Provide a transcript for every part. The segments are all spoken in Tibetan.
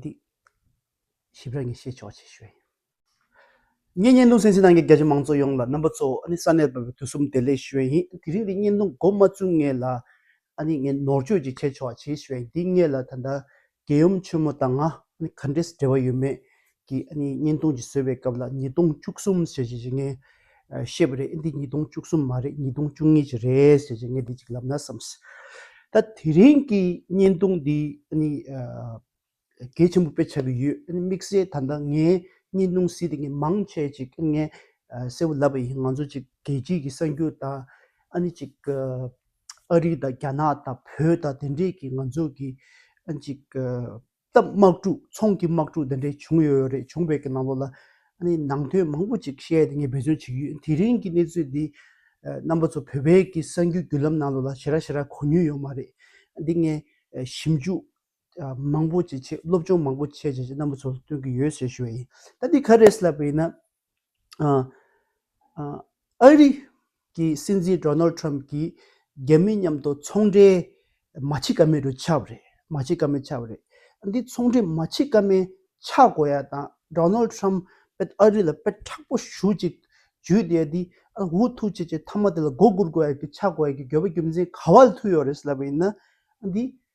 འདི། ཞིབ་ཕྲ་ངས་བཤད་ཆོག་ཅེས་ཞུས། ངས་བརྙན་ཐུང་སེམས་ཅན་ནང་གི་རྒྱ་ཆེ་མང་གཙོ་ཡོངས་ལ་རྣམ་པ་གཙོ་བོ་ཨ་ནི་ས་གནས་པའི་དུས་གསུམ་བདེ་ལེགས་ཞུ་བའི་ཡིན་དེ་རིང་གི་བརྙན་ཐུང་མགོ་མ་བཙུགས་ངེས་ལ་ཨ་ནི་ངས་ནོར་བཅོས་ཅིག་བྱས་ཆོག་ཅེས་ཞུས་འདི་སྔས་ལ་ད་ལྟ་རྒྱལ་ཡུམ་ཆོས་མོ་དང་ང་ཨ་ནི་ག་འདྲའི་འབྲེལ་བ་ཡོད་མེད་གི་བརྙན་ཐུང་གི་ཟོས་པའི་སྐབས་ལ་ཉིས་སྟོང་བཅུ་གསུམ་ཟེར་གྱི་ངས་བཤད་པ་རེད་འདི་ཉིས་སྟོང་བཅུ་གསུམ་མ་རེད་ཉིས་སྟོང་བཅུ་གཉིས་ཀྱི་རེད་ཟེར་གྱི་ངས་དེ་གཅིག་ལབ་ན་བསམས། ད་དེ་རིང་གི་བརྙན་ཐུང་འདི་གལ་ཆེན་པོ་དཔེ་ཆགས་ཀྱི་ཡོད་དམིགས་བསལ་ད་ལྟ་ངའི་བརྙན་ཐུང་སྲིད་དེ་ངས་མང་ཆེ་ཅིག་ངས་གསལ་བོ་ལབ་པ་ཡིན་ང་ཚོ་ཅིག་རྒྱལ་སྤྱིའི་གི་གསར་འགྱུར་དང་ཨ་ནི་ཅིག་ཨ་རི་དང་རྒྱ་ནག་དང་བོད་དང་དེ་འདྲས་ཀྱི་ང་ཚོ་གི་ཨ་ཅིག། སྟབས་དམག་འཁྲུག་ཚོང་གི་དམག་འཁྲུག་འདི་འདྲའི་བྱུང་ཡོད་ཡོད་རེད་བྱུང་བའི་གནང་ལོ་ལ་ནང་དོན་མང་པོ་ཅིག་བཤད་དེ་ངས་འབད་བརྩོན་བྱེད་ཀྱི་ཡོད་དེ་རིང་གི་གནས་ཚུལ་འདི་རྣམ་པ་ཚོ་བོད་པའི་གི་གསར་འགྱུར་བརྒྱུད་ལམ་ནང་ལོ་ལ་ཞེ་ར་ཞེ་ར་གོ་ཉུལ་ཡོད་མ་རེད་འདི་ངས་ཞིབ་འཇུག་མང་པོ་ཅིག་བྱེད་སློབ་སྦྱོང་མང་པོ་བྱས་རྗེས་རྣམ་པ་ཚོ་ལ་སྟོན་གྱི་ཡོད་ཞེས་ཞུ་བ་ཡིན་ད་འདི་ག་རེད་ཟེར་ལབ་པ་ཡིན་ན། ཨ་རི་གི་སྲིད་འཛིན་རྡོ་ནལ་ཏྲམ་གྱིས་རྒྱ་མི་མཉམ་དུ་ཚོང་འབྲེལ་མ་བྱེད་ཀ་མེད་དུ་ཆགས་པ་རེད་མ་བྱེད་ཀ་མེད་ཆགས་པ་རེད། འདི་ཚོང་འབྲེལ་མ་བྱེད་ཀ་མེད་ཆགས་དགོས་ཡ་དང་རྡོ་ནལ་ཏྲམ་དཔེ་ཨ་རི་ལ་དཔེ་དྲག་པོ་ཞུ་ཅིག་བྱུས་དེ་འདི་འུ་ཐུག་ཆེ་ཆེ་མཐའ་མ་དེ་ལ་མགོ་སྒུར་དགོས་ཡ་གི་ཆགས་དགོས་ཡ་གི་འགྱོད་པ་རྒྱུ་མཚན་ག་བ་ལ་ཐུག་ཡོད་རེད་ཟེར་ལབ་པ་ཡིན་ན་འདི་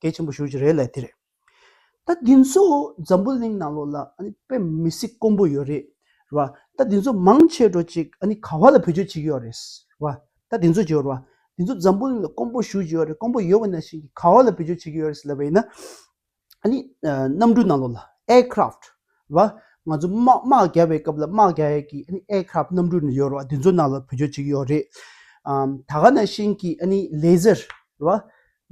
གལ་ཆེན་པོ་ཞུ་རྒྱུ་རེད་ལས་དེ་རེད། ད་དེ་ཚོ་འཛམ་བུ་གླིང་ནང་ལོགས་ལ་དཔེ་མི་སྲིད་དཀོན་པོ་ཡོད་རེད་རེད་བ། ད་དེ་ཚོ་མང་ཆེ་བྲོ་ཅིག་ག་བ་ལ་བེད་སྤྱོད་བྱེད་ཀྱི་ཡོད་རེད་བ། ད་དེ་ཚོ་ཇོ་རེད་བ། དེ་ཚོ་འཛམ་བུ་གླིང་ལ་དཀོན་པོ་ཞུ་རྒྱུ་ཡོད་རེད་དཀོན་པོ་ཡོད་བ་ན་ཞིག་ག་བ་ལ་བེད་སྤྱོད་བྱེད་ཀྱི་ཡོད་རེད་ལབ་པ་ཡིན་ན། གནམ་གྲུ་ནང་ལོགས་ལ Aircraft བ། ང་ཚོ་དམག་རྒྱལ་བའི་སྐབས་ལ་དམག་རྒྱལ་གྱི Aircraft གནམ་གྲུ་ཡོད་རེད་བ་དེ་ཚོ་ནང་ལ་བེད་སྤྱོད་བྱེད་ཀྱི་ཡོད་རེད། ད་ག་ན་ཞིག་གི Laser བ།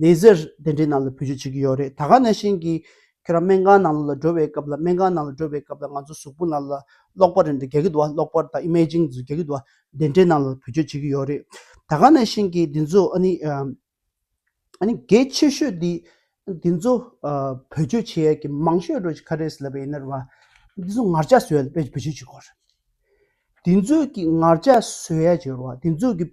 ལས་ཟེར། དེ་འདྲའི་ནང་ལ་བུ་རྒྱུད་བྱེད་ཀྱི་ཡོད་རེད་ད་ག་ནས་བཞིན་གྱིས། ཁྱོད་རང་སྨན་ཁང་ནང་ལོགས་ལ་འགྲོ་བའི་སྐབས་ལ་སྨན་ཁང་ནང་ལ་འགྲོ་བའི་སྐབས་ལ་ང་ཚོ་གཟུགས་པོ་ནང་ལ་གློག་པར་རེད་འདུག་རྒྱག་གི་འདུག་བ་གློག་པར་དང Imaging ཟེར་རྒྱག་གི་འདུག་བ་དེ་འདྲའི་ནང་ལ་བུ་རྒྱུད་བྱེད་ཀྱི་ཡོད་རེད། ད་ག་ནས་བཞིན་གྱིས་འདི་ཚོ་ཨ་ནི། ཨ་ནི་གལ་ཆེ་ཤོས་འདི། འདི་ཚོ། བུ་རྒྱུད་བྱེད་ཡག་གི་མང་ཤོས་རོ་ཁ་རེས་ལབ་པ་ཡིན་ནར་བ། འདི་ཚོ་ངར་ལྕགས་བཟོས་ཡག་ལ་དཔེ་བུ་རྒྱུད་བྱེད་དགོས་རེད། འདི་ཚོས་ཀྱི་ངར་ལྕགས་བཟོས་ཡག་བྱེད་རོ་བ་འདི་ཚོས་ཀྱི།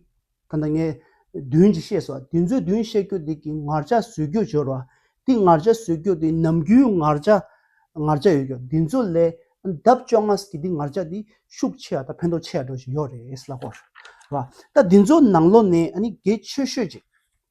ད་ནངས་བདུན་གྱིས་ཤེས་སོ། དེ་ཚོས་བདུན་བཤད་རྒྱུ་དེ་གི་ངར་ཆ་བཟོས་རྒྱུ་སྦྱོར་བ། དེ་ངར་ཆ་བཟོས་རྒྱུ་དེ་ནམ་རྒྱུན་ངར་ཆ་ངར་ཆ་ཡོད་རྒྱུ་དེ་ཚོ་ལས་ལྡབ་བཅོ་ལྔ་གི་དེ་ངར་ཆ་དེ་ཤུགས་ཆེ་བ་དང་ཕན་ཐོག་ཆེ་བ་འགྲོ་བཞིན་ཡོད་རེད་ལགས། ད་དེ་ཚོ་ནང་ལོ་ནས་གེ་ཆོས་ཤོད་ཅིག་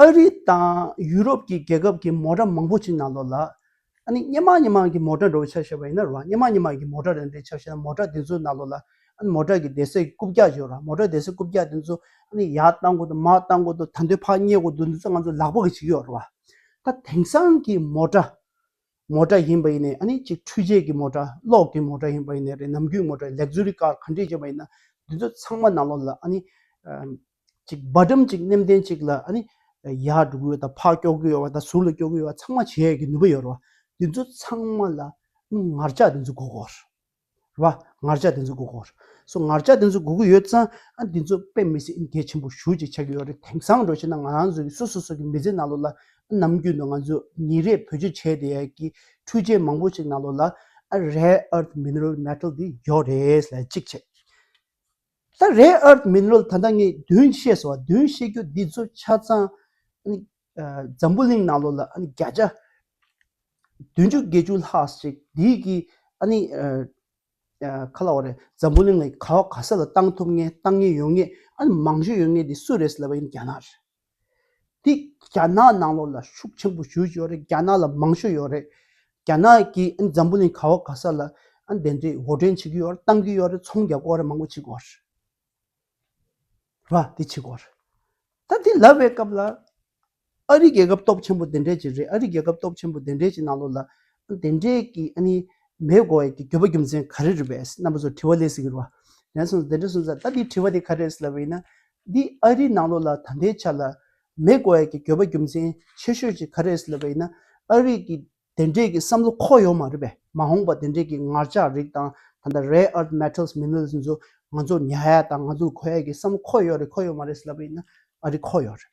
ཨ་རི་དང་ཡུ་རོབ་ཀྱི་རྒྱལ་ཁབ་ཀྱི་མོ་ཏྲ་མང་པོ་ཅིག་ནང་ལོགས་ལ། ཨ་ནི་སྙེ་མང་སྙེ་མང་གི་མོ་ཏྲ་འགྲོ་བའི་ཆ་ཞེས་པ་ཡིན་ན་རུང་བ་སྙེ་མང་སྙེ་མང་གི་མོ་ཏྲ་རེད་འདྲའི་ཆ་ཞེས་ན་མོ་ཏྲ་དེ་ཚོའི་ནང་ལོགས་ལ་ཨ་ནི་མོ་ཏྲ་གི་སྡེ་སྲིད་རྐུབ་བཀྱག་ཅིག་ཡོད་རུང་བ་མོ་ཏྲ་སྡེ་སྲིད་རྐུབ་བཀྱག་དེ་ཚོ་ཨ་ནི་ཡར་བཏང་དགོས་འདུག་མར་བཏང་དགོས་འདུག་ད་འདོད་ཕག་རྙེད་དགོས་འདུག་འདི་ཚོ་ང་ཚོ་ལག་པ་གི་ཅིག་ཡོད་རུང་བ། ད་དེང་སང་གི་མོ་ཏྲ་མོ་ཏྲ་ཡིན་པ་ཡིན་ནས་ཨ་ནི་ཅིག་འཕྲུལ་ཆས་ཀྱི་མོ་ཏྲ་གློག་གི་མོ་ཏྲ་ཡིན་པ་ཡིན་ནས་རེད་ནམ་རྒྱུན་མོ་ཏྲ་ལེགས་ཟུར་རི་ཀར་གང་འདྲས་བྱས་པ་ཡིན་ན་དེ་ཚོ་ཚང་མ་ནང་ལོགས་ལ་ཨ་ནི་ཅིག་འབའ་འགྲམ་ཅིག་སྣེམ་ལྡན་ཅིག་ལ་ནི་ཡར་འགྲོ་གི་ཡོད་དམ་ཕར་སྐྱོག་གི་ཡོད་བ་དང་ཟུར་ལ་སྐྱོག་གི་ཡོད་བ་ཚང་མ་བྱེད་ཀྱི་ནུས་པ་ཡོད་རེད་བ། དེ་ཚོ་ཚང་མ་ལ་ངར་ལྕགས་དེ་ཚོ་འགོག་དགོས་རེད་བ། ངར་ལྕགས་དེ་ཚོ་འགོག་དགོས་རེད། སོ་ངར་ལྕགས་དེ་ཚོ་འགོག་གི་ཡོད་ཙང་ཨ་དེ་ཚོ་དཔེ་མི་སྲིད་ཨིན་གལ་ཆེན་པོ་ཞུ་ཅིག་བྱ་གི་ཡོད་རེད་དེང་སང་འགྲོ་ཤེས་ན་ང་རང་ཚོ་གི་སོ་སོ་སོ་གི་མི་ཚེ་ནང་ལོགས་ལ་ཨ་ནམ་རྒྱུན་དུ་ང་ཚོ་ཉིན་རེ་བེད་སྤྱོད་བྱས་བསྡད་ཡག་གི་འཕྲུལ་ཆས་མང་པོ་ཅིག་ནང་ལོགས་ལ་ཨ rare earth mineral metal དེ་ཡོད་རེད་ལ་གཅིག་བྱས། ད་རེས་ཨར་ཏི་མིན་རོལ་ད་ལྟ་ངས་བདུན་བཤད་སོང་བ་བདུན་བཤད་རྒྱུ་འདི་ཚོ་ཆ་ཚང་འཛམ་བུ་གླིང་ནང་ལོ་ལ་བརྒྱ་ཆ་བདུན་ཅུ་བརྒྱད་ཅུ་ལྷག་ཅིག་འདིས་ཀྱི་ཁ་ལ་བ་རེད་འཛམ་བུ་གླིང་ལ་ག་བ་ག་ས་ལ་བཏང་ཐུབ་ངེས་བཏང་ངེས་ཡོང་ངེས་མང་ཤོས་ཡོང་ངེས་འདི་སུ་རེད་ཟེར་ལབ་པ་ཡིན་རྒྱ་ནག་རེད། དེ་རྒྱ་ནག་ནང་ལོགས་ལ་ཤུགས་ཆེན་པོ་ཞུ་བཞིན་ཡོད་རེད་རྒྱ་ནག་ལ་མང་ཤོས་ཡོད་རེད་རྒྱ་ནག་གིས་འཛམ་བུ་གླིང་ག་བ་ག་ས་ལ་དེ་འདྲའི་འོར་འདྲེན་བྱེད་ཀྱི་ཡོད་རེད་གཏང་གི་ཡོད་རེད་ཚོང་རྒྱག་དགོས་རེད་མང་པོ་བྱེད་དགོས་རེད་རེད་པ་དེ་བྱེད་དགོས་རེད་ད་དེ་ལབ་པའི་སྐབས་ལ་ཨ་རི་རྒྱལ་ཁབ་སྟོབས་ཆེན་པོ་དེ་འདྲས་ཀྱི་རེད་ཨ་རི་རྒྱལ་ཁབ་སྟོབས་ཆེན་པོ་དེ་འདྲས་ཀྱི་ནང་ལོགས་ལ་དེ་འདྲས་ཀྱི་ཨ་ནི་མེད་དགོས་ཡས་ཀྱི་འགྱོད་པ་རྒྱུ་མཚན་ག་རེ་རེད་པས་རྣམ་པ་ཚོ་དྲི་བ་ལས་སྲིད་ཀྱི་རེད་པ། དེ་ནས་བཟུང་དེ་འདྲས་སོང་ཙང་ད་དེ་དྲི་བ་དེ་ག་རེ་རེད་ཟེར་ལབ་པ་ཡིན་ན་འདི་ཨ་རིའི་ནང་ལོགས་ལ་ད་ལྟའི་ཆ་ལ་མེག་གྷོ་ཨེར་གྱི་འགྱོད་པ་རྒྱུ་མཚན་ཆེ་ཤོས་ཅིག་ག་རེད་ཟེར་ལབ་པ་ཡིན་ན་ཨ་རིག་གི་དེ་འདྲས་ཀྱི་བསམ་བློ་ཁོག་ཡོད་མ་རེད་པས་མ་འོངས་པ་དེ་འདྲས་ཀྱི་ངར་ལྕགས་རིགས་དང་ད་ལྟ་རེ་ཨར་མེཏལ་མི་ནུས་ཚོ་ང་ཚོ་ཉའ་ཡ་དང་ང་ཚོ་གོ་ཡ་ཀྱི་བསམ་བློ་ཁོག་ཡོད་རེད་ཁོག་ཡོད་མ་རེད་ཟེར་ལབ་པ་ཡིན་ན་ཨ་རི་ཁོག་ཡོད་རེད།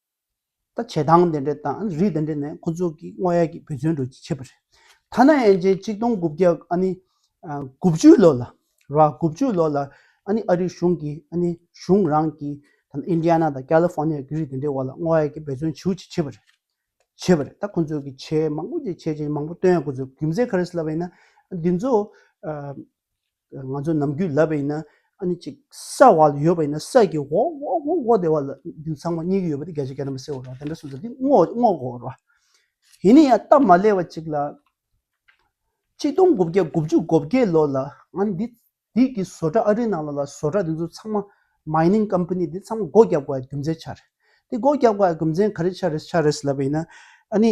ད་བྱེད་སྟངས་དེ་འདྲ་དང་རིགས་དེ་འདྲ་ནི་ཁོ་ཚོ་གི་དངོས་ཡ་གི་བུ་བཙོན་འགྲུལ་གྱི་བྱེད་པོ་རེད། ཐ་ན་ཡན་ཆད་གཅིག་སྟོང་དགུ་བརྒྱ་ཨ་ནི་དགུ་བཅུའི་ལོ་ལ་ར་དགུ་བཅུའི་ལོ་ལ་ཨ་ནི་ཨ་རི་གཞུང་གིས་ཨ་ནི་གཞུང་རང་གིས་ཐ་ན་ཨིན་དྲི་ཡ་ན་དང་ཀ་ལི་ཧྥོ་ནི་ཡ་གི་རིགས་དེ་འདྲའི་འོག་ལ་དངོས་ཡ་གི་བུ་བཙོན་བྱེད་ཀྱི་བྱེད་པོ་རེད། བྱེད་པོ་རེད་ད་ཁོ་ཚོ་གི་བྱེད་མང་པོ་ཅིག་བྱེད་ཅིག་མང་པོ་སྟོན་ཡ་ཁོ་ཚོ་རྒྱུ་མཚན་ག་རེ་སུ་ལ་བས་ན་འདི་ཚོ། ང་ཚོ་ནམ་རྒྱུན་ལབ་པ་ཡིན་ན་ཨ་ནི་ཅིག་ས་འོག་ལ་ཡོད་པ་ཡིན་ན་སད་ཀྱི་འོག་འོག་འོག་འོག་འོག་དེ་བ་ལ་རྒྱུན་ཚང་མ་གཉིས་ཀ་ཡོད་པ་དེ་གལ་ཆེ་གལ་རིན་པོ་སེའོ་ར་བ་དེ་འདྲ་སུ་ཟེར་དེ་སྔོག་འོག་འོག་འོག་ར་བ། ཡིན་ནའི་ཡང་སྟབས་མ་ལེགས་པ་ཅིག་ལ། གཅིག་སྟོང་དགུ་བརྒྱ་དགུ་བཅུ་གོ་བརྒྱད་ལོ་ལ་ང་ནི་འདི་འདི་གི་བཟོ་གྲྭ་ཨ་རིའི་ནང་ལོག་ལ་བཟོ་གྲྭ་དེ་ཚོ་ཚང་མ Mining Company དེ་ཚང་མ་སྒོ་རྒྱབ་དགོས་པའི་རྒྱུ་མཚན་ཆ་རེད། དེ་སྒོ་རྒྱབ་དགོས་པའི་རྒྱུ་མཚན་ག་རེ་ཆ་རེ་ཆ་རེ་ཟེར་ལབ་པ་ཡིན་ན་ཨ་ནི་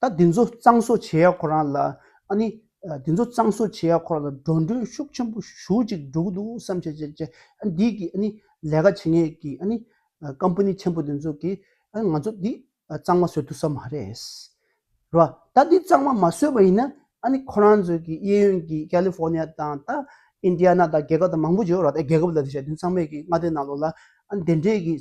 ད་དེ་ཚོ་གཙང་བཟོ་བྱེད་ཡ་ཁོ་རང་ལ་ཨ་ནི། དེ་ཚོ་གཙང་བཟོ་བྱེད་ཡ་ཁོ་རང་ལ་འགྲོ་འགྲུལ་ཤུགས་ཆེན་པོ་ཞུགས་ཅིག་འགྲོ་གི་འདུག་བསམ་ཤེས་བྱེད་བྱེད་ཨ་འདི་གི་ཨ་ནི་ལས་ཀ་བྱེད་ངེས་ཀྱི་ཨ་ནི། Company ཆེན་པོ་དེ་ཚོ་གི་ཨ་ང་ཚོ་འདི་གཙང་མ་བཟོ་ཐུབ་ས་མ་རེད། རེད་བ། ད་འདི་གཙང་མ་མ་བཟོས་པ་ཡིན་ན་ཨ་ནི་ཁོ་རང་ཚོའི་གི་གཡས་གཡོན་གི་ཀལི་ཧྥོ་ནི་ཡ་དང་ད་ཨིན་དི་ཡ་ན་དང་རྒྱལ་ཁབ་དང་མང་པོ་བྱོས་རོགས་ད་རྒྱལ་ཁབ་ལ་དེ་བྱས་དོན་ཚང་མས་གི་མངའ་སྡེ་ནང་ལོགས་ལ་ཨ་ནི་དེ་འདྲས་གི་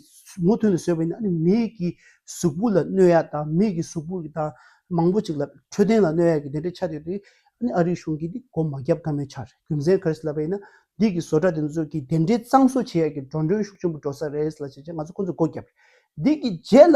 མུ་མཐུད་ནས་བཟོས་པ་ཡིན་ན་ཨ་ནི་མི་གི་གཟུགས་པོ་ལ་གནོད་ཡ་དང་མི་གི་གཟུགས་པོ་གི་དང་མང་པོ་ཅིག་ལ་འཕྲོད་བསྟེན་ལ་གནོད་ཡ་གི་དེ་འདྲས་ཆ་དེ་དེ་ཨ་ནི་ཨ་རིའི་གཞུང་གི་དེ་སྒོ་མ་རྒྱབ་ཀ་མེད་ཆ་རེད་རྒྱུ་མཚན་ག་རེ་ལབ་པ་ཡིན་ན་འདི་གི་བཟོ་གྲྭ་དེ་ཚོ་གི་དེ་འདྲས་གཙང་བཟོ་བྱེད་ཡ་གི་འགྲོ་འགྲོན་ཤུགས་ཆེན་པོ་འགྲོ་ས་རེད་ལ་བྱས་རྗེས་ང་ཚོ་ཁོ་ཚོ་སྒོ་རྒྱབ་རེད་འདི་གི་རྗེས་ལ་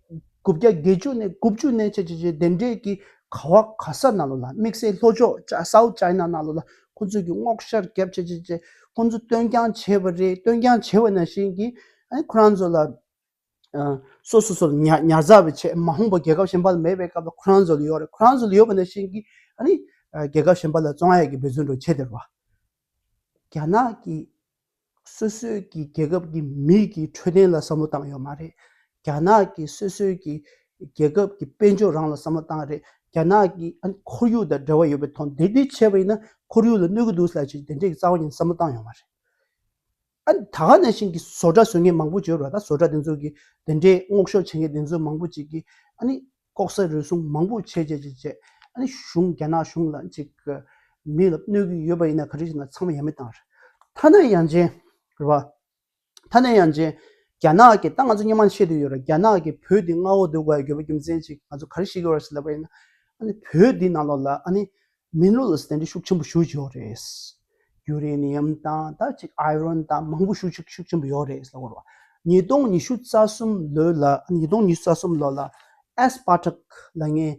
དགུ་བརྒྱ་བརྒྱད་ཅུ་ནས་དགུ་བཅུ་གནས་བྱེད་ཀྱི་དེ་འབྲེལ་གྱི་ག་བ་ག་ས་ན་ལོ་ལ་དམིགས་བསལ་ལྷོ་ཕྱོགས South China ན་ལོ་ལ་ཁོ་ཚོས་ཀྱི་བསྔོག་བཤར་རྒྱབ་བྱེད་ཀྱི་ཅེས་ཁོ་ཚོས་བཏོན་རྐྱང་བྱས་པ་རེད་བཏོན་རྐྱང་བྱས་པ་ན་བཞིན་གྱི་ཁོ་རང་ཚོ་ལ་སོ་སོ་སོར་ཉར་ཉར་ཚགས་པའི་ཆེད་མ་ཧོང་པོ་རྒྱལ་ཁབ་གཞན་པ་ལ་མེད་པའི་སྐབས་ལ་ཁོ་རང་ཚོ་ལ་ཡོད་རེད་ཁོ་རང་ཚོ་ལ་ཡོད་པ་ན་བཞིན་གྱི་རྒྱལ་ཁབ་གཞན་པ་ལ་བཙོང་ཡས་ཀྱི་འབོད་བརྩོན་འགྲོ་བྱས་དེ་རེད་བ། རྒྱ་ནག་གི་སོ་སོའི་གི་རྒྱལ་ཁབ་ཀྱི་མི་གི་འཕྲོད་བསྟེན་ལ་བསམ་བློ་བཏང་ཡོད་མ་རེད། རྒྱ་ནག་གི་སོ་སོའི་གི་རྒྱལ་ཁབ་ཀྱི་དཔལ་འབྱོར་རང་ལ་བསམ་བློ་བཏང་རེད། རྒྱ་ནག་གི་ཁོར་ཡུག་དང་འབྲེལ་བ་ཡོད་པའི་ཐོག་འདི་འདི་བྱས་པ་ཡིན་ན་ཁོར་ཡུག་ལ་གནོད་གི་འདུག་ལ་ཅི་དེ་འདྲའི་རྩ་བ་ཉིད་བསམ་བློ་བཏང་ཡོད་མ་རེད། ཨ་ད་ག་ནས་བཞིན་གི་བཟོ་གྲྭ་བཟོས་མཁན་མང་པོ་བྱས་རོགས་ད་བཟོ་གྲྭ་དེ་ཚོ་གི་དེ་འདྲའི་སྔོག་ཤོར་བྱས་མཁན་དེ་ཚོ་མང་པོ་ཅིག་གི་ཨ་ནི་ལྐོག་ཟ་རུལ་སུངས་མང་པོ་བྱས་བྱས་བྱས་བྱས་ཨ་ནི་གཞུང་རྒྱ་ནག་གཞུང་ལ་ཅིག་གི་མིག་ལ་གནོད་ཀྱི་ཡོད་པ་ཡིན་ན་ག་རེ་བྱས་ན་ཚང་མ་ཡ་མེད་གཏང་རེད་ད་ནས་ཡང་རྗེན་རེད་བ། ད་ནས་ཡང་རྗེན་རྒྱ་ནག་གི་ད་ང་ཚོ་སྙན་མང་ཤེས་དུས་ཡོད་རེད་རྒྱ་ནག་གི་བོད་དེ་མངའ་འོག་འདུག་ག་ཡོད་པ་རྒྱུ་མཚན་ཅིག་ང་ཚོ་ག་རེ་ཤེས་ཀྱི་ཡོད་རེད་ཟེར་ལབ་པ་ཡིན་ན་ཨ་ནི་བོད་དེ་ནང་ལོགས་ལ་ཨ་ནི་སྨན་ལུགས་ལ་སེམས་འཁྲལ་ཤུགས་ཆེན་པོ་ཞུ་གི་ཡོད་རེད། ཡུ་རེ་ནི་ཡམ་དང་ད་ཅིག་ཨའི་རོན་དང་མང་པོ་ཞུ་ཤུགས་ཤུགས་ཆེན་པོ་ཡོད་རེད་ཟེར་བར། ཉིས་སྟོང་ཉི་ཤུ་རྩ་གསུམ་ལོའི་ལ་ཉིས་སྟོང་ཉི་ཤུ་རྩ་གསུམ་ལོ་ལ་ཨེས་པཱ་ཀྲག་ལ་ངས་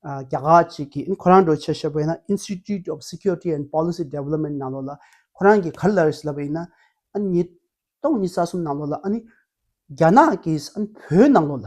རྒྱ་གར་ཅིག་གི་ཨིན་ཁོ་རང་འགྲོ་ཆེད་ཤོད་པ་ཡིན་ན Institute of Security and Policy Development ནང་ལོ་ལ་ཁོ་རང་གིས་ག་རེ་ལབ་རེད་ཟེར་ལབ་པ་ཡིན་ན། ཉིས་སྟོང་ཉི་རྩ་གསུམ་ནང་ལོ་ལ་ཨ་ནི་རྒྱ་ནག་གིས་བོད་ནང་ལོ་ལ་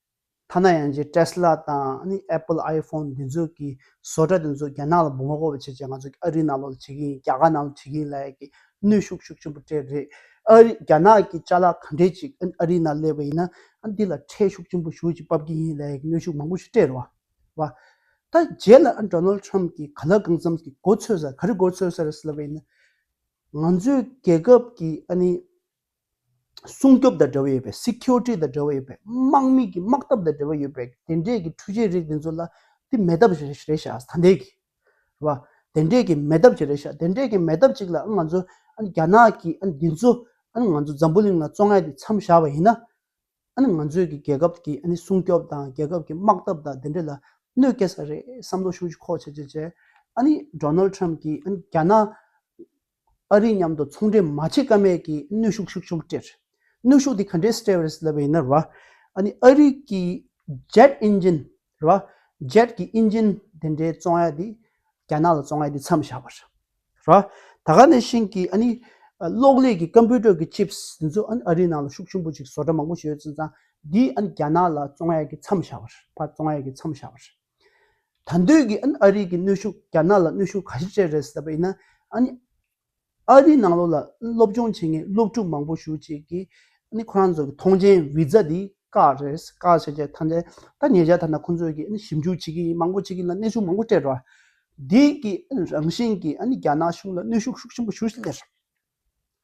ཐ་ན་ཡང་རྗེས Tesla དང Apple iPhone འདི་ཚོ་གི་བཟོ་གྲྭ་དེ་ཚོ་རྒྱ་ནག་ལ་འབུ་ངོ་རྒོལ་བ་བྱེད་ཅེས་ང་ཚོ་ཨ་རིའི་ནང་ལོགས་ལ་བྱེད་ཀྱི་ཡིན་རྒྱ་གར་ནང་ལོགས་བྱེད་ཀྱི་ཡིན་ལ་ཡག་གི་གནོད་ཤུགས་ཤུགས་ཆེན་པོ་སྤྲད་རེད། ཨ་རི་རྒྱ་ནག་གི་བཅའ་ལག་ག་འདྲས་ཅིག་ཨ་རིའི་ནང་སླེབས་པ་ཡིན་ན་འདི་ལ་ཁྲལ་ཤུགས་ཆེན་པོ་ཞུ་ཅིག་བབ་ཀྱི་ཡིན་ལ་ཡག་གི་གནོད་ཤུགས་མང་པོ་ཞིག་སྤྲད་རོགས། ད་རྗེས་ལ Donald Trump གིས་ག་ལ་གང་འཚམས་ཀྱི་འགོ་ཚོས་ས་ག་རེ་འགོ་ཚོས་ས་རེ་ཟེར་བ་ཡིན་ན། ང་ཚོའི་རྒྱལ་ཁབ་ཀྱི་སྲུང་སྐྱོབ་དང་འབྲེལ་བ་ཡོད་པའི Security དང་འབྲེལ་བ་ཡོད་པའི་དམག་མི་གི་དམག་འཐབ་དང་འབྲེལ་བ་ཡོད་པའི་དེ་འདྲས་ཀྱི་འཕྲུལ་ཆས་རིགས་དེ་ཚོ་ལ་དེ་མེད་ཐབས་རེད་བྱ་ད་ལྟའི་གི་རེད་བ། དེ་འདྲས་ཀྱི་མེད་ཐབས་ཅིག་རེད་བྱ་དེ་འདྲས་ཀྱི་མེད་ཐབས་ཅིག་ལ་ང་ཚོ་རྒྱ་ནག་གི་དེ་ཚོ་ང་ཚོ་འཛམ་བུ་གླིང་ལ་བཙོ་ང་དེ་འཚམས་བཞག་པ་ཡིན་ན་ང་ཚོས་གི་རྒྱལ་ཁབ་ཀྱི་སྲུང་སྐྱོབ་དང་རྒྱལ་ཁབ་ཀྱི་དམག་འཐབ་དང་དེ་འདྲས་ལ་གནོད་སྐྱེལ་ས་རེད་བསམ་བློ་ཤུགས་ཆེ་ཁོག་ཆེ་བྱེད་བྱེད། Donald Trump གི་རྒྱ་ནག་ཨ་རི་མཉམ་དུ་ཚོང་འབྲེལ་མ་བྱེད་ཀ་མེད་ཀྱི་གནོད་ཤུགས་ཤིག་བྱུང་སྟེ། གནོད་ཤུགས་དེ་ག་འདྲའི་གསལ་བར་སླེབས་པ་ཡིན་ན། ཨ་རི་གྱི Jet Engine། Jet གྱི Engine། དེ་འདྲའི་བཙོང་ཡ་དེ་རྒྱ་ནག་ལ་བཙོང་ཡ་དེ་མཚམས་བཞག་པ་རེད། ད་ག་ནས་བཞིན་གྱི་གློག་ཀླད་ཀྱི Computer གྱི Chips དེ་ཚོ་ཨ་རིའི་ནང་ལ་ཤུགས་ཆེན་པོ་ཅིག་བཟོ་གྲ་མང་པོ་ཞིག་ཡོད་ཚུལ་ཙང་དེ་རྒྱ་ནག་ལ་བཙོང་ཡ་གི་མཚམས་བཞག་པ་རེད། ད་འདོད་ཀྱི་ཨ་རིའི་གི་གནོད་ཤུགས་རྒྱ་ནག་ལ་གནོད་ཤུགས་ག་ཤེད་ཅེ་རེད་ཟེར་པ་ཡིན་ན། ཨ་རིའི་ནང་ལོགས་ལ་སློབ་སྦྱོང་བྱེད་མཁན་སློབ་ཕྲུག་མང་པོ་ཞུགས་བྱེད་ཀྱི། ཁོ་རང་ཚོ་གི་ཐོངས་མཆན Visa དེ་བཀག་རེད་བཀག་བྱས་བྱས་ཐམས་ཅད་ད་ཉེ་ཆར་ད་ནང་ཁོང་ཚོ་གི་ཞིབ་འཇུག་བྱེད་ཀྱི་ཡིན་མང་པོ་བྱེད་ཀྱི་ཡིན་ལ་གནས་ཤུགས་མང་པོ་སྤྲད་རོགས། དེ་གི་རང་བཞིན་གྱི་རྒྱ་ནག་གཞུང་ལ་གནོད་ཤུགས་ཤུགས་ཆེན་པོ་ཞུ་བཞིན་ཡོད།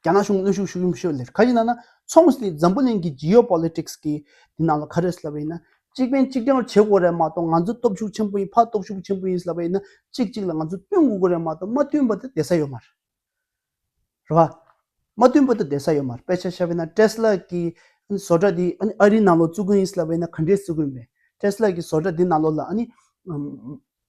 རྒྱ་ནག་གཞུང་གནོན་ཤུགས་ཤུགས་ཡོད་ལེ། ག་ཡིན་ན་ན། མཚུངས་སུ་དེ་འཛམ་བུ་གླིང་གི Geopolitics གི་དེ་ནང་ལ་ག་རེ་ཟེར་བ་ཡིན་ན། གཅིག་ཕན་གཅིག་གྲངས་བྱེད་དགོས་རེད་མ་གཏོགས་ང་ཚོ་སྟོབས་ཤུགས་ཆེན་པོ་ཡིན་ཕ་སྟོབས་ཤུགས་ཆེན་པོ་ཡིན་ཟེར་བ་ཡིན་ན་གཅིག་གཅིག་ལ་ང་ཚོ་བསྟུན་དགོས་རེད་མ་གཏོགས་མ་བསྟུན་པ་དེ་བསྡད་ས་ཡོད་མ་རེད། རེད་བ། མ་བསྟུན་པ་དེ་བསྡད་ས་ཡོད་མ་རེད་དཔེ་ཆ་ཤར་བས་ན Tesla གི་བཟོ་གྲྭ་དེ་ཨ་རིའི་ནང་ལོགས་བཙུགས་ཀི་ཡིན་ཟེར་བ་ཡིན་ན་ག་འདྲའི་བཙུགས་ཀི་ཡིན་པས། Tesla གི་བཟོ་གྲྭ་དེ་ནང་ལོགས་ལ་ཨ་ནི།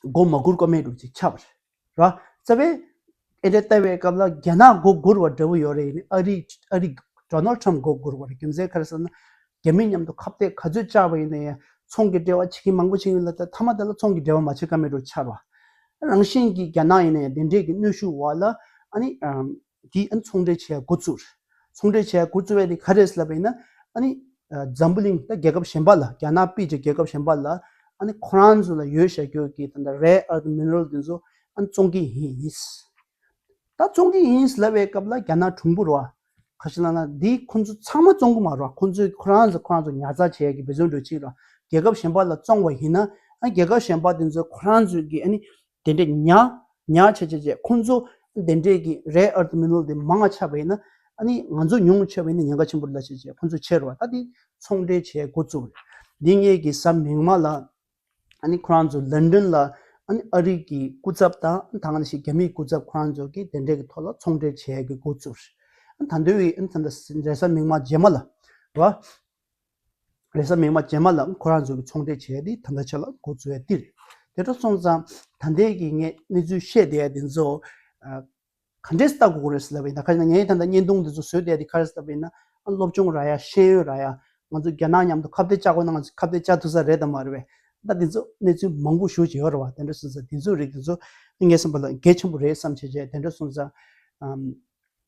སྒོ་མ་སྒུར་ཀ་མེད་འདུག་ཅེས་ཁྱབ། ར་རྩ་བས། ཨེ་རེད་ལྟ་བའི་སྐབས་ལ་རྒྱ་ནག་སྒོ་སྒུར་བ་འདྲ་བོ་ཡོད་རེད་ཨ་རི་ཨ་རི། Donald Trump སྒོ་སྒུར་བ་རེད་རྒྱུ་མཚན་ག་རེ་ཟེར་ན། རྒྱ་མི་མཉམ་དུ་ཁ་བརྡས་ག་ཚོད་བཅག་པ་ཡིན་ན་ཡང་ཚོང་གི་འབྲེལ་བ་བྱེད་མཁན་མང་པོ་ཞིག་ཡིན་ལ་དེ་མཐའ་མ་དེ་ལ་ཚོང་གི་འབྲེལ་བ་མ་བྱེད་ཀ་མེད་འདུག་ཆར་བ། རང་བཞིན་གྱིས་རྒྱ་ནག་ཡིན་ན་ཡང་དེ་འདྲས་ཀྱི་གནོད་ཤུགས་འོག་ལ་ཨ་ནི། དེ་ཨ་ནི་ཚོང་འབྲེལ་བྱས་འགོ་བཙུགས། ཚོང་འབྲེལ་བྱས་འགོ་བཙུགས་པ་དེ་ག་རེད་ལབ་པ་ཡིན་ན། ཨ་ནི་འཛམ་བུ་གླིང་ད་རྒྱལ་ཁབ་གཞན་པ་ལ་རྒྱ་ནག་དཔེ་ཀྱི་རྒྱལ་ཁབ་གཞན་པ་ལ་ཨ་ནི་ཁོ་རང་ཚོ་ལ་ཡོད་བྱ་རྒྱུ་གི་ད་ལྟ་རེ་ཨར་ཏི་མིན་རོལ་དེ་ཚོ་ཨ་ནི་བཙོང་གི་ཡིན། ད་བཙོང་གི་ཡིན་ལབ་པའི་སྐབས་ལ་རྒྱ་ནག་གྲུང་པོ་རོགས་ཁ་ཤས་ལ་ན་དེ་ཁོ་ཚོ་ཚང་མ་བཙོང་གི་མ་རོགས་ཁོ་ཚོས་ཁོ་རང་ཚོ་ཁོ་རང་ཚོ་ཉར་ཚགས་བྱས་ཀྱི་བེ་ཟོན་འགྲོ་ཕྱིན་རོགས་རྒྱལ་ཁབ་གཞན་པ་ལ་བཙོང་བ་ཡིན་ན་ཨ་ནི་རྒྱལ་ཁབ་གཞན་པ་དེ་ཚོ་ཁོ་རང་ཚོ་གི་ཨ་ནི་དེ་འདྲའི་ཉག་ཉག་ཆེ་ཆེ་བཅས་ཁོང་ཚོ་དེ་འདྲས་ཀྱི་རེད་ཨར་ཏི་མི་ནོལ་དེ་མང་ང་ཆགས་པ་ཡིན་ན་ཨ་ནི་ང་ཚོ་ཉུང་ཆེ་བ་ཡིན་ན་ཉེན་ཁ་ཆེན་པོ་རེད་ལ་ཆེ་ཆེ་ཁོང་ཚོ་ཆེ་རུ་བ་ད་དེ་ཚོང་འབྲེལ་བྱས་འགོ་བཙུགས་རེད་འདི་ངེད་ཀྱི་ས་མིག་མ་ལ་ཨ་ནི་ཁོ་རང་ཚོ་ལན་ཀྲིན་ལ་ཨ་ནི་ཨ་རིག་གི་སྐུ་ཚབ་དང་ད་གང་ཞིག་རྒྱ་མིའི་སྐུ་ཚབ་ཁོ་རང་ཚོ་གི་དེ་འདྲས་ཀྱི་ཐོག་ལ་ཚོང་འབྲེལ་བྱས་འགོ་བཙུགས་རེད་ད་འདོད་ཡིན་ཨ་ནི་ད་འདྲ་རེད་ས་མིག་མ་རྗེས་མ་ལ་བ། ལེ་བཟའ་མིང་མ་བྱས་མ་ལ་ཁོ་རང་ཚོ་གི་ཚོང་འབྲེལ་བྱས་ཏེ་ད་ལྟ་ཆ་ལ་འགོ་ཚུད་པའི་ཏིར་དེ་འགྲོ་སོང་ཙང་ད་འདས་ཀྱི་ངས་གནས་ཚུལ་བཤད་བསྡད་དེ་ཚོ་ག་འདྲས་ལྟ་དགོས་རེད་ཟེར་ལབ་ཡིན་ད་ཁ་ཡིན་ན་ངས་ད་ལྟ་བརྙན་ཐུང་དེ་ཚོ་བཟོས་བསྡད་དེ་ཁ་རས་ལབ་ཡིན་ན་སློབ་སྦྱོང་ར་ཡ་ཤེས་ཡོན་ར་ཡ་ང་ཚོ་རྒྱ་ནག་མཉམ་དུ་ཁ་བརྡ་བཅག་དགོས་ན་ང་ཚོ་ཁ་བརྡ་བཅག་ཐུབ་ས་རེད་དམ་མ་རེད་བས་ད་དེ་ཚོ་གནས་ཚུལ་མང་པོ་ཞུ་བྱས་ཡོད་རེད་བ་དེ་འདྲས་སོང་ཙང་དེ་ཚོའི་རིགས་དེ་ཚོ་ངས་བསམ་པ་ལ་འགལ་ཆེན་པོ་རེད་བསམ་བྱས་བྱས་དེ་འདྲས་སོང་ཙང་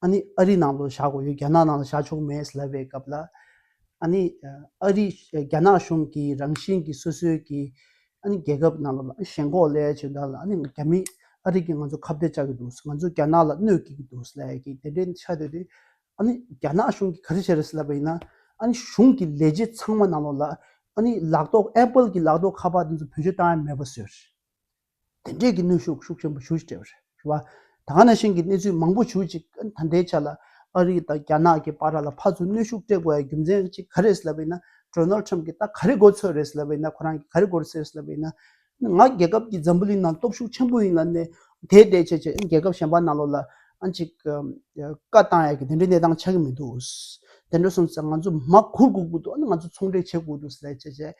ཨ་ནི་ཨ་རི་ནང་དུ་བཞག་དགོས་རྒྱུ་རྒྱ་ནག་ནང་དུ་བཞག་ཆོག་མེད་ལབ་པའི་སྐབས་ལ། ཨ་ནི་ཨ་རི་རྒྱ་ནག་གཞུང་གི་རང་བཞིན་གྱི་སོ་སོའི་གྱི་ཨ་ནི་རྒྱལ་ཁབ་ནང་ལ་ཞེན་ཁོག་ལས་བྱས་ད་ལ་ཨ་ནི་རྒྱ་མི་ཨ་རི་གི་ང་ཚོ་ཁ་བརྡའི་བཅག་གི་འདུག་ང་ཚོ་རྒྱ་ནག་ལ་གནོད་བགྱིད་ཀྱི་འདུག་ལས་ཀྱི་དེ་འདྲའི་ཆ་དེ་དེ་ཨ་ནི་རྒྱ་ནག་གཞུང་གི་ག་རེ་བྱས་རེད་ལབ་པ་ཡིན་ན་ཨ་ནི་གཞུང་གི་ལས་བྱེད་ཚང་མ་ནང་ལོགས་ལ་ཨ་ནི་ལག་ཏོག Apple གྱི་ལག་ཏོག་ཁ་པར་དེ་ཚོ་བོད་ཆོས་བཏང་ཡ་མེད་པ་བཟོས་རེད། དེ་འབྲེལ་གྱི་གནོན་ཤུགས་ཤུགས་ཆེན་པོ་ཞུ་ཅི་བྱས་པ་རེད། ད་ང་ནས་ཤིང་གི་གནས་ཚུལ་མང་པོ་ཞུ་ཅིག་ད་ལྟའི་ཆ་ལ་ཨ་རི་དང་རྒྱ་ནག་གི་བར་ལ་ཕར་ཚུར་གནོན་ཤུགས་སྤྲད་དགོས་པའི་རྒྱུ་མཚན་གཅིག་ག་རེད་ཟེར་བ་ཡིན་ན་ཏྲོན་ནོལ་ཁྲེམ་གྱིས་ད་ག་རེ་དགོས་ཚོད་རེད་ཟེར་བ་ཡིན་ན་ཁོ་རང་གིས་ག་རེ་དགོས་ཟེར་ཟེར་བ་ཡིན་ན། ང་རྒྱལ་ཁབ་ཀྱི་འཛམ་བུ་གླིང་ནང་སྟོབས་ཤུགས་ཆེན་པོ་ཡིན་ལ་ནས་དེ་དེ་བྱས་བྱས་རྒྱལ་ཁབ་གཞན་པ་ནང་ལོགས་ལ་ཨང་ཅིག་བཀའ་བཏང་ཡག་གི་དེ་འདྲའི་གནས་སྟངས་ཆགས་ཀྱི་མི་འདུག། དེ་འདྲ་སོང་ཚེ་ང་ཚོ་མ་གུར་དགོས་ཀྱི་འདུག་ང་ཚོ་ཚོང་འབྲེལ་བྱེད་དགོས་འདུག་ཟེར་བྱས་བྱས།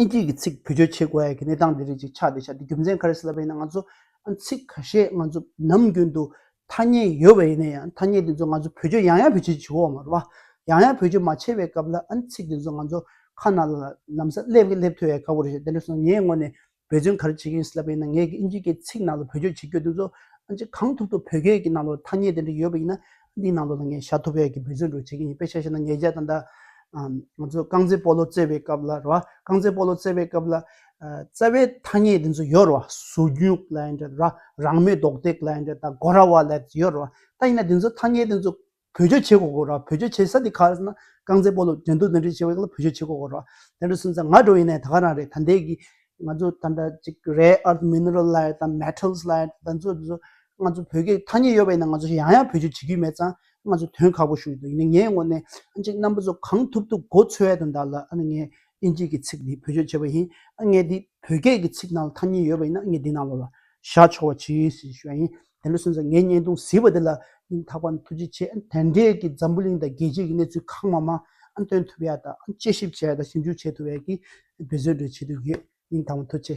ཨིན་སྐད་ཀྱི་ཚིག་བེད་སྤྱོད་བྱེད་དགོས་ཡ་གི་གནས་སྟངས་འདི་རིགས་ཅིག་ཆགས་འདི་ཆགས་འདི་རྒྱུ་མཚན་ག་རེ་ཟེར་ལབ་པ་ཡིན་ན་ང་ཚོ་ཚིག་ག་ཤེད་ང་ཚོ་ནམ་རྒྱུན་དུ་ཐ་སྙད་ཡོད་པ་ཡིན་ན་ཡང་ཐ་སྙད་དེ་ཚོ་ང་ཚོ་བེད་སྤྱོད་ཡང་ཡང་བེད་སྤྱོད་བྱེད་འོང་བ་ཡང་ཡང་བེད་སྤྱོད་མ་བྱས་པའི་སྐབས་ལ་ཚིག་དེ་ཚོ་ང་ཚོ་ཁ་ན་ལ་ནམ་ས་སླེབས་ཀྱི་སླེབས་ཐུ་ཡ་ག་བོ་རེད་དེ་ལས་སོང་ངའི་ངོ་ནས་བོད་བརྒྱུད་ག་རེ་བྱེད་ཀྱིན་ཡོད་ཟེར་ལབ་པ་ཡིན་ན་ངས་ཨིན་ཇིའི་སྐད་ཚིག་ནང་ལ་བོད་བརྒྱུད་བྱེད་སྐྱོད་དེ་ཚོ་ཨ་ཅེ་གང་ཐུབ་ཐུབ་བོད་སྐད་ཀྱི་ནང་ལོ་ཐ་སྙད་དེ་འདྲ་ཡོད་པ་ཡིན་ན་འདིའི་ནང་ལོ་ལ་ངས་བྱ་ཐུབ་བོད་ཀྱི་བོད་བརྒྱུད་འགྲོ་བྱེད་ཀྱིན་ཡིན་དཔེ་ཆ་ཤེས་ན་ཉེ་རྒྱ་ད་ལྟ་ང་ཚོ་རྐང་རྩེད་སྤོ་ལོ་རྩེ་བའི་སྐབས་ལ་རེད་བ་རྐང་རྩེད་སྤོ་ལོ་རྩེ་བའི་སྐབས་ལ་རྩེ་བའི་ཐ་སྙད་དེ་ཚོ་ཡོད་རེད་བ་ཟུར་རྒྱུག་ལ་ཡིན་དྲན་ར་རང་མོས་རྡོག་རྡེག་ལ་ཡིན་དྲན་ད་སྒོ་ར་བ་ལ་ཡོད་རེད་བ་ད་ཡིན་ན་དེ་ཚོ་ཐ་སྙད་དེ་ཚོ་བོད་ཆོས་བྱེད་སྒོ་སྐོར་བ་བོད་ཆོས་བྱེད་ས་དེ་ཁ་སང་རྐང་རྩེད་སྤོ་ལོ་འགྲན་བསྡུར་འདི་འདྲའི་བྱེད་པ་ལ་བོད་ཆོས་བྱེད་སྒོ་སྐོར་བ་དེ་འདྲ་གསུངས་ཚར་ང་འགྲོ་ཡི་ནས་ད་ག་རང་རེད་ད་འདས་ཀྱི་ང་ཚོ་ད་འདྲ་ཅིག་རེ་ཨར་མིནིར་ལ་ཡི་དམ་མེཐལ་ལ་ཡི་དམ་ཚོ་ཚོ་ང་ཚོ་བོད་སྐད་ཐ་སྙད་ཡོད་པ་ཡིན་ན་ང་ཚོ་ཡང་ཡང་བོད་ཆོས་བྱེད་ཀྱི་མེད་ཙང་ང་ཚོ་དོན་ཁག་པོ་ཞུ་ཡི་འདུག་ཡིན་ན་ངའི་ངོ་ནས་ཨ་ཅེ་རྣམ་པ་ཚོ་གང་ཐུབ་ཐུབ་མགོ་འཚོས་ཡ་དུ་འདག་ལ་ཨ་ནི་ངས་ཨིན་སྐད་ཀྱི་ཚིག་འདི་བོད་ཆོས་བྱེད་པ་ཡིན་ཨ་ངས་འདི་བོད་སྐད་ཀྱི་ཚིག་ནང་ལ་ཐ་སྙད་ཡོད་པ་ཡིན་ན་ངས་འདི་ནང་ལ་བཞག་ཆོག་བ་ཇི་ཞེས་ཞུ་བ་ཡིན་དེ་ལོ་སོན་ཟ་ངའི་བརྙན་ཐུང་བཟི་བ་དེ་ལ་སྙིང་ཐག་པ་ནི་ཐུགས་རྗེ་ཆེ་དེ་འདྲས་ཀྱི་འཛམ་བུ་གླིང་དང་རྒྱལ་སྤྱི་གི་གནས་ཚུལ་གང་མང་མང་སྟོན་ཐུབ་ཡ་དང་དཔྱད་ཞིབ་བྱེད་ཡ་དང་ཞིབ་འཇུག་བྱེད་ཐུབ་ཡ་གི་འབད་བརྩོན་འགྲོས་བྱེད་དུ་ཡོད་སྙིང་ཐག་པ་མཐུ་ཆེ།